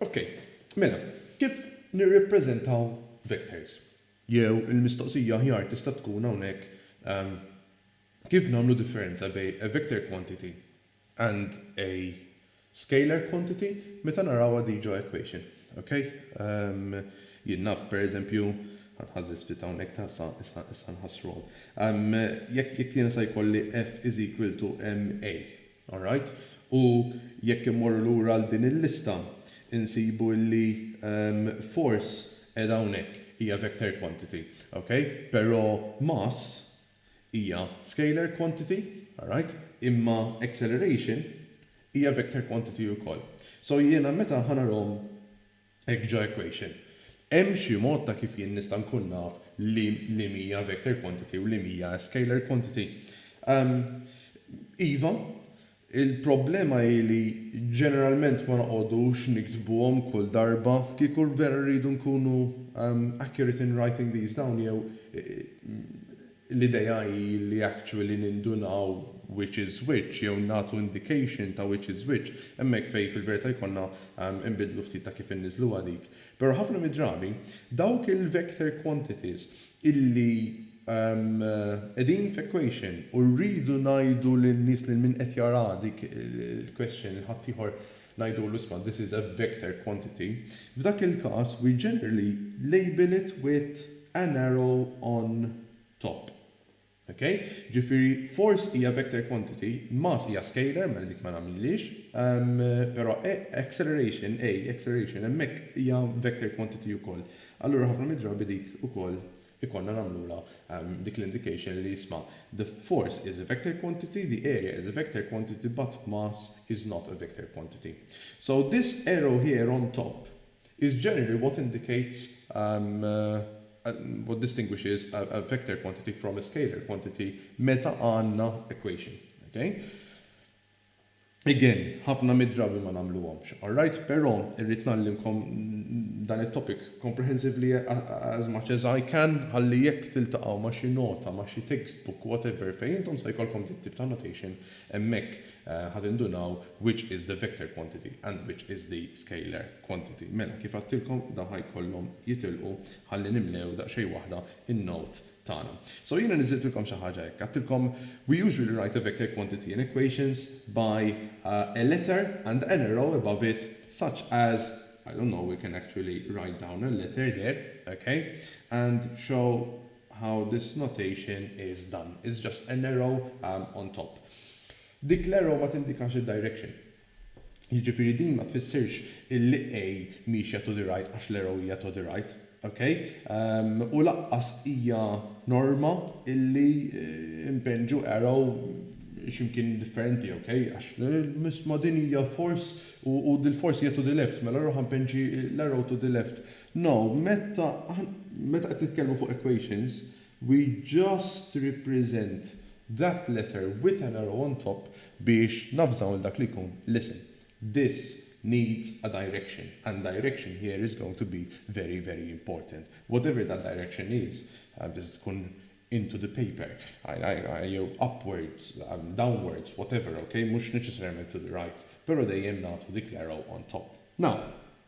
Okej, mela, kif nirrappreżentaw vectors? Jew il-mistoqsija aħjar tista' tkun hawnhekk kif nagħmlu differenza bejn a vector quantity and a scalar quantity meta narawha di ġo equation. Ok? Umm jien naf per eżempju, ħa nħażżiż ftit hawnhekk ta' sa issa issa nħassruhom. Umm jekk jekk jiena sa jkolli F is equal to MA. Alright? U jekk immorru lura għal din il-lista insibu illi umm force qiegħda hawnhekk hija vector quantity. Ok? Però mass hija scalar quantity, alright, imma acceleration hija vector quantity ukoll. So jiena meta ħa narahom hekk ġo equation, hemm xi mod ta' kif jien nista' nkun naf li li mhija vector quantity u li mhija scalar quantity? Iva, Il-problema hi li ġeneralment ma noqogħdux niktbuhom kull darba. Kieku vera rridu nkunu accurate in writing these down jew l-idea hi li actually nindunaw which is which jew nagħtu indication ta' which is which, hemmhekk fejn fil-verità jkollna inbiddlu ftit ta' kif inniżluha dik. Però ħafna mid-drabi, dawk il-vector quantities illi qegħdin f'equation u rridu ngħidu lin-nies lil min qed jara dik il-question lil ħaddieħor ngħidulu isma' this is a vector quantity, f'dak il-każ we generally label it with an arrow on top. Ok? Ġifieri force hija vector quantity, mass hija scalar, mela dik ma nagħmilhiex. Però A, acceleration, A, acceleration, hemmhekk hija vector quantity ukoll. Allura ħafna mid-drabi dik ukoll ikollna nagħmlulha dik l-indication li isma' the force is a vector quantity, the area is a vector quantity but mass is not a vector quantity. So this arrow here on top is generally what indicates what distinguishes a vector quantity from a scalar quantity meta għandna equation. Ok? Again, ħafna mid-drabi ma nagħmluhomx. Alright? Però irrid ngħallimkom dan it-topic comprehensively as much as I can ħalli jekk tiltaqgħu ma' xi nota, ma' xi textbook, whatever, fejn intom se jkollkom dit-tip ta' notation hemmhekk Ħa tindunaw which is the vector quantity and which is the scalar quantity. Mela, kif għadtilkom, dawn ħa jkollhom jitilqu ħalli nimlew daqsxejn waħda n-note tagħna. So jiena niżżiltilkom xi ħaġa hekk, għadtilkom we usually write a vector quantity in equations by a letter and an arrow above it such as, I don't know, we can actually write down a letter there, okay, and show how this notation is done, it's just an arrow on top. Dik l-arrow ma tindikax id-direction. Jiġifieri din ma tfissirx illi A miexja to the right għax l-arrow hija to the right. Ok? U lanqas hija norma illi npinġu arrow xi mkien differenti, ok? Għax isma' din hija force u dil-force hija to the left, mela allura ħa npinġi l-arrow to the left. Now, meta meta qed nitkellmu fuq equations, we just represent that letter with an arrow on top biex navżaw lil dak li jkun, listen, this needs a direction and direction here is going to be very, very important. Whatever that direction is, tista' tkun into the paper, jew upwards, downwards, whatever, ok, mhux neċessarjament to the right, però dejjem nagħtu dik l-arrow on top. Now,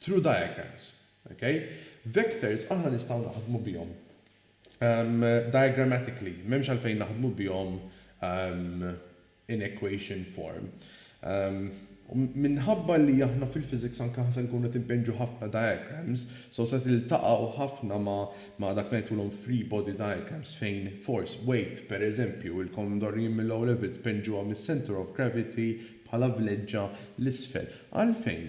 True diagrams. Ok? Vectors aħna nistgħu naħdmu bihom diagrammatically, m'hemmx għalfejn naħdmu bihom in equation form. Minħabba li aħna fil-physics anke se nkunu qed inpinġu ħafna diagrams, so se tiltaqgħu ħafna ma' dak li ngħidulhom free body diagrams fejn force, weight, per eżempju, ilkom mdorrijin mill-O Level tpinġuha mis-centre of gravity bħala vleġġa 'l isfel. Għalfejn?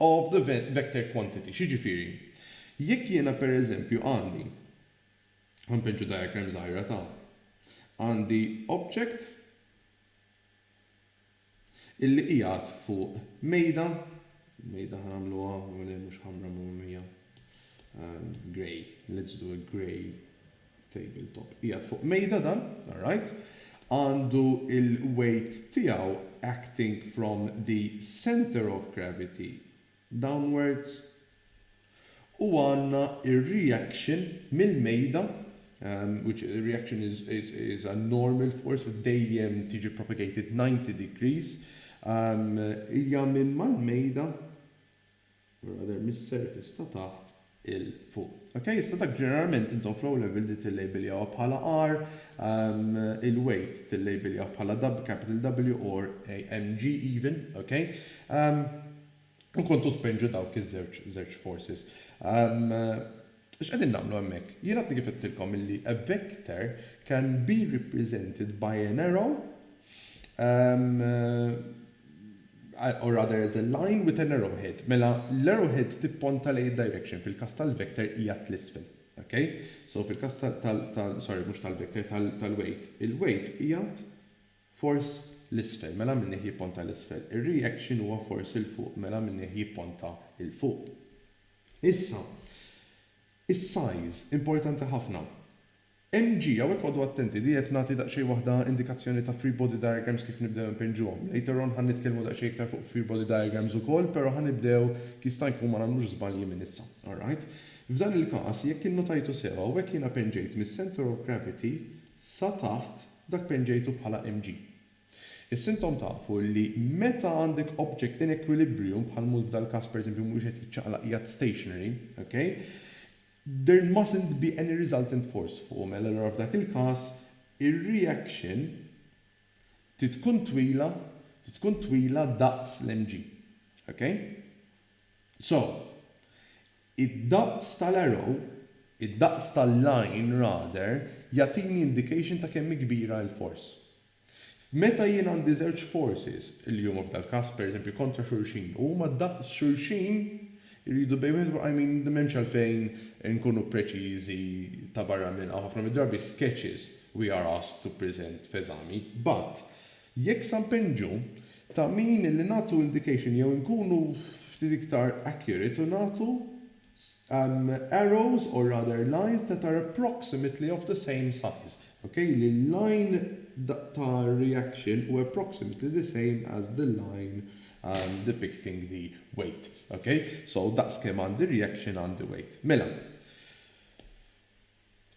of the vector quantity. X'jiġifieri? Jekk jiena pereżempju għandi, ħa npeġġu diagram żgħira ta', għandi object illi qiegħed fuq mejda, mejda ħa nagħmluha mhux ħamra mhumija, grey, let's do a grey Table top qiegħed fuq mejda dan, alright. Għandu l-weight tiegħu acting from the centre of gravity downwards u għandna r-reaction mill-mejda which the reaction is is a normal force dejjem tiġi propagated 90 degrees hija minn mal-mejda Mela deher mis-surface ta' taħt 'il fuq. Ok, issa dak ġeneralment intom f'low level di tillejbiljawha bħala R, il-weight tillejbiljawh bħala capital W or AMG even, ok. U kontu tpinġu dawk iż-żewġ forces. X'qegħdin nagħmlu hemmhekk? Jien għadni kif għedtilkom illi a vector can be represented by an arrow or rather as a line with an arrow head. Mela l-arrow head tipponta lejn id-direction, fil-każ tal-vector hija t'lisfel. Ok? So fil-każ tal, sorry mhux tal-vector, tal-weight. Il-weight qiegħed Fors 'l isfel, mela minnih jipponta 'l isfel. Ir-reaction huwa fors 'il fuq, mela minnih jipponta 'il fuq. Issa, is-size, importanti ħafna. Mg, hawnhekk qogħdu attenti, di qed nagħti daqsxejn waħda indikazzjoni ta' free body diagrams kif nibdew inpinġuhom. Later on ħa nitkellmu daqsxejn iktar fuq free body diagrams ukoll, però ħa nibdew jista' jkun ma nagħmlux żbalji minn issa. Alright? F'dan il-każ, jekk innotajtu sew, hawnhekk jiena pinġejt mis-centre of gravity sa taħt, Dak penġejtu bħala MG. Is-sintom tafu li meta għandek object in equilibrium, bħal mhu f'dal każ pereżempju mhuwiex qed jiċċaqlaq qiegħed stationary, ok, there mustn't be any resultant force fuqu mela allura f'dak il-każ ir-reaction trid tkun twila trid tkun twila daqs l-MG. Ok? So, id-daqs tal-arrow, id-daqs tal-line rather, jagħtini indication ta' kemm hi kbira l-force. Meta jien għandi żewġ forces, li huma f'dal-każ pereżempju kontra xulxin, u huma daqs xulxin, iridu bejn wieħed u ieħor, I mean, m'hemmx għalfejn inkunu preċiżi ta' barra minn hawn, ħafna mid-drabi sketches we are asked to present f'eżami, but, Jekk sa npinġu, ta' min li nagħtu indication jew inkunu ftit iktar accurate u nagħtu arrows or rather lines that are approximately of the same size, ok, li l-line ta' reaction hu approximately the same as the line depicting the weight, ok. So daqs kemm għandi reaction għandi weight. Mela.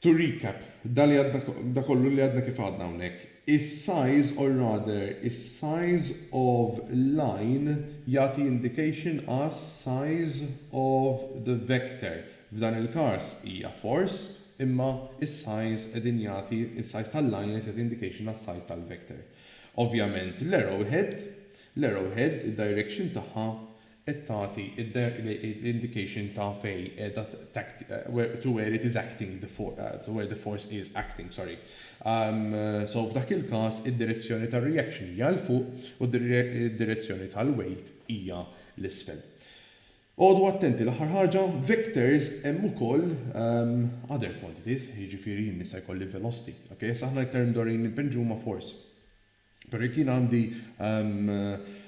To recap, da li għadna, da kollu li għadna kif għadna hawnhekk, is-size or rather is-size of line jagħti indication għas-size of the vector. F'dan il-każ hija force imma is-size qegħdin jagħti, is-size tal-line qed jagħti indication għas-size tal-vector. Ovvjament l-arrow head, l-arrow head id-direction tagħha qed tagħti l-indication ta' fejn qiegħda to where it is acting the to where the force is acting, sorry. So f'dak il-każ id-direzzjoni tar-reaction hija 'l fuq u d-direzzjoni tal-weight hija 'l isfel. Għodu attenti l-aħħar ħaġa, vectors hemm ukoll other quantities, jiġifieri jien nista' jkolli velocity, ok? Issa aħna iktar imdorrijin li npinġu huma force. Però jekk jien għandi, ehm,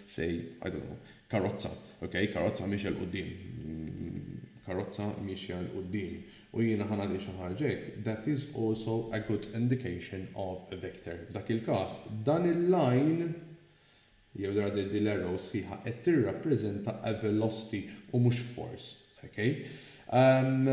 say, I don't know, karozza, ok, karozza miexja 'l quddiem, karozza miexja 'l quddiem, u jiena ħa nagħti xi ħaġa hekk, that is also a good indication of a vector. F'dak il-każ, dan il-line, jew rather din l-arrow sħiħa qed tirrappreżenta a velocity u mhux force, ok? Ehm,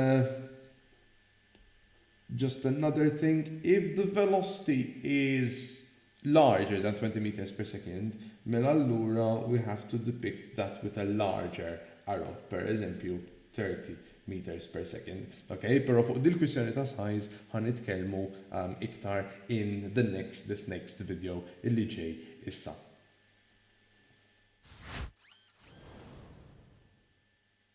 Just another thing, if the velocity is larger than twenty metres per second, mela allura we have to depict that with a larger arrow, per eżempju thirty metres per second. Ok, pero fuq dil-kwistjoni ta' size ħa nitkellmu iktar in the next this next video illi ġej issa.